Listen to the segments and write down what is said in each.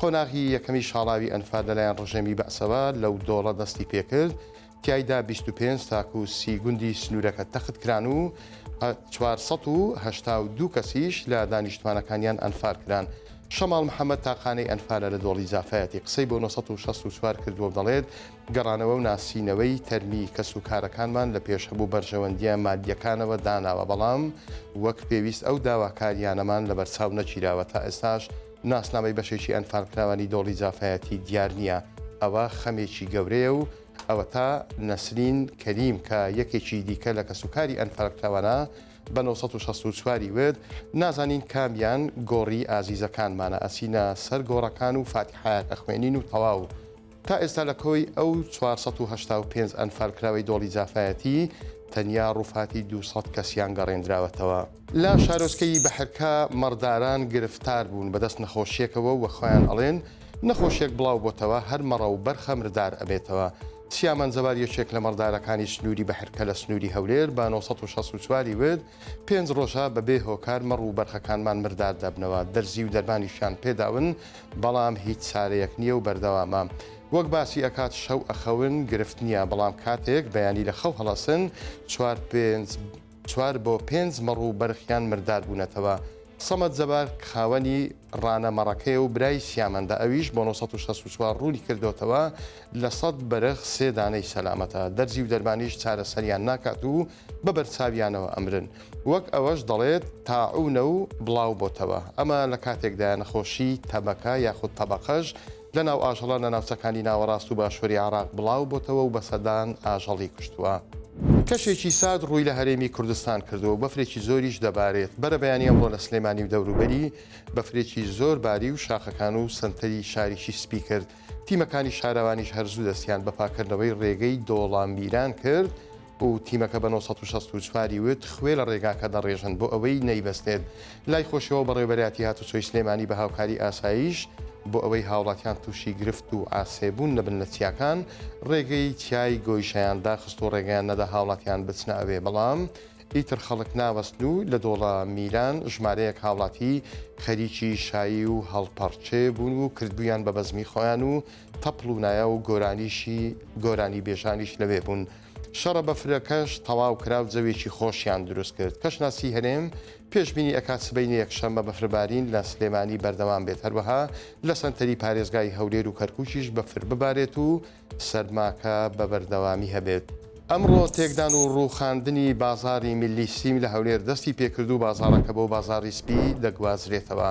قۆناغی یەکەمی شاڵاوی ئەنفال لەلایەن ڕژێمی بەعسەوە لەو دۆڵە دەستی پێکرد، تیایدا بیست و پێنج تاکوو سی گوندی سنوورەکە تەخت کران و چوار سەد و هەشتا و دوو کەسیش لە دانیشتمانەکانیان ئەنفال کران. شەماڵ محەمەد تاقانەی ئەنفالە لە دۆڵی زافایەتی قسەی بۆ نۆ سەد و شەست و چوار کردووە و دەڵێت، گەڕانەوە و ناسینەوەی تەرمی کەسوکارەکانمان لە پێش هەموو بەرژەوەندییە مادییەکانەوە داناوە، بەڵام وەک پێویست ئەو داواکارییانەمان لەبەرچاو نەگیراوە، تا ئێستاش ناسنامەی بەشێکی ئەنفالکراوانی دۆڵی جافایەتی دیار نییە، ئەوە خەمێکی گەورەیە و ئەوەتا نەسرین کەریم کە یەکێکی دیکە لە کەسوکاری ئەنفالکراوانە بە نۆ سەد و شەست و چوار ی وت، نازانین کامیان گۆڕی ئازیزەکانمانە، ئەچینە سەر گۆڕەکان و فاتیحایەک ئەخوێنین و تەواو. تا ئێستا لە کۆی ئەو چوار سەد و هەشتا و پێنج ئەنفالکراوەی دۆڵی جافایەتی، تەنیا ڕووفاتی دوو سەد کەسیان گەڕێندراوەتەوە. لە شارۆچکەی بەحرکا مەڕداران گرفتار بوون بەدەست نەخۆشیەکەوە و خۆیان ئەڵێن نەخۆشیەک بڵاو بۆتەوە هەر مەڕە و بەرخە مردار ئەبێتەوە. سیامەند جەبار یەکێک لە مەڕدارەکانی سنووری بەحرکە لە سنووری هەولێر بە نۆ سەد و شەست و چوار ی وت، پێنج ڕۆژە بەبێ هۆکار مەڕ و بەرخەکانمان مردار دەبنەوە، دەرزی و دەرمانیشیان پێداون، بەڵام هیچ چارەیەک نیە و بەردەوامە وەک باسی ئەکات شەو ئەخەون گرفت نیە بەڵام کاتێک بەیانی لە خەو هەڵەسن چوار پێنج چوار بۆ پێنج مەڕ و بەرخیان مردار بوونەتەوە سەمەد جەبار خاوەنی ڕانە مەڕەکەی و برای سیامەندە ئەویش بۆ 1964 ڕوونی کردۆتەوە لە سەد بەرخ سێ دانەی سەلامەتە دەرزی و دەرمانیش چارەسەریان ناکات و بە بەرچاویانەوە ئەمرن، وەک ئەوەش دەڵێت تاعوونە و بڵاو بۆتەوە، ئەمە لە کاتێکدایە نەخۆشی تەبەکە یاخود تەبەقەش لە ناو ئاژەڵان لە ناوچەکانی ناوەڕاست و باشووری عێراق بڵاو بۆتەوە و بە سەدان ئاژەڵی کوشتووە. کەشێکی سارد ڕووی لە هەرێمی کوردستان کردووە و بەفرێکی زۆریش دەبارێت، بەرەبەیانی ئەمڕۆ لە سلێمانی و دەوروبەری بەفرێکی زۆر باری و شاخەکان و سەنتەری شاریشی سپی کرد، تیمەکانی شارەوانیش هەر زوو دەستیان بە پاککردنەوەی رێگەی دۆڵە میران کرد و تیمەکە بە نۆ سەد و شەست و چوار ی وت خوێ لە رێگاکە دەڕێژن بۆ ئەوەی نەیبەستێت. لای خۆشیەوە بەڕێوەبەرایەتی هاتوچۆی سلێمانی بە هاوکاری ئاسایش بۆ ئەوەی هاوڵاتیان تووشی گرفت و عاسێبوون نەبن لە چیاکان رێگەی چیای گۆیشەیان داخست و رێگەیان نەدا هاوڵاتیان بچنە ئەوێ بەڵام ئیتر خەڵک ناوەستن و لە دۆڵە میران ژمارەیەک هاوڵاتی خەریکی شایی و هەڵپەڕکێ بوون و کردبوویان بە بەزمی خۆیان و تەپڵ و نایە و گۆرانیشی گۆرانیبێژانیش لەوێ بوون. شەڕە بەفرەکەش تەواو کرا و جەوێکی خۆشیان دروست کرد. کەشناسی هەرێم پێشبینی ئەکات سبەینێ یەکشەممە بەفربارین لە سلێمانی بەردەوام بێت هەروەها لە سەنتەری پارێزگای هەولێر و کەرکووکیش بەفر ببارێت و سەرماکە بە بەردەوامی هەبێت. ئەمڕۆ تێکدان و ڕووخاندنی بازاڕی میللی سیم لە هەولێر دەستی پێکرد و بازاڕەکە بۆ بازاڕی سپی دەگوازرێتەوە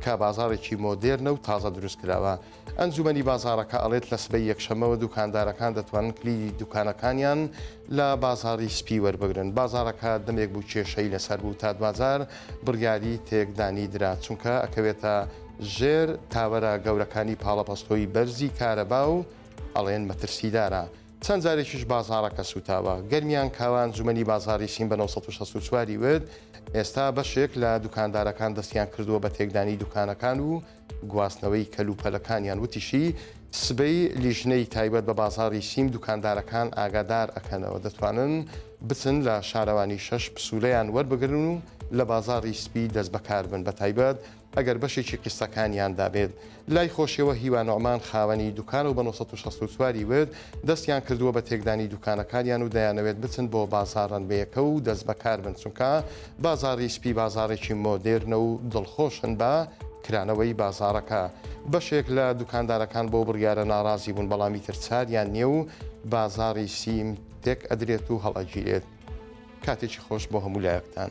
کە بازاڕێکی مۆدێرنە و تازە دروستکراوە. ئەنجومەنی بازاڕەکە ئەڵێت لە سبەی یەکشەممەوە دوکاندارەکان دەتوانن کلیلی دوکانەکانیان لە بازاڕی سپی وەربگرن. بازاڕەکە دەمێک بوو کێشەی لەسەر بوو تا دواجار بڕیاری تێکدانی درا چونکە ئەکەوێتە ژێر تاوەرە گەورەکانی پاڵەپەستۆی بەرزی کارەبا و ئەڵێن مەترسیدارە، چەند جارێکیش بازاڕەکە سووتاوە. گەرمیان کاوە ئەنجومەنی بازاڕی سین بە نۆ سەد و شەست و چوار ی وت، ئێستا بەشێک لە دوکاندارەکان دەستیان کردووە بە تێکدانی دوکانەکان و گواستنەوەی کەلوپەلەکانیان، وتیشی، سبەی لیژنەی تایبەت بە بازاڕی سیم دوکاندارەکان ئاگادار ئەکەنەوە، دەتوانن بچن لە شارەوانی شەش پسوولەیان وەربگرن و لە بازاڕی سپی دەستبەکاربن بەتایبەت ئەگەر بەشێکی قیسەکانیان دابێت لای خۆشیەوە هیوا نوعمان خاوەنی دوکانە و بە نۆ سەد و شەست و چوار ی ورد دەستیان کردووە بە تێکدانی دوکانەکانیان و دەیانەوێت بچن بۆ بازاڕ رەنبێیەکە و دەستبەکاربن چونکە بازاڕی سپی بازاڕێکی مۆدێرنە و دڵخۆشن بە کرانەوەی بازاڕەکە بەشێک لە دوکاندارەکان بەو بڕیارە ناڕازی بوون بەڵام ئیتر چاریان نییە و بازاڕی سیم تێک ئەدرێت و هەڵئەگیرێت. کاتێکی خۆش بۆ هەموو لایەکتان.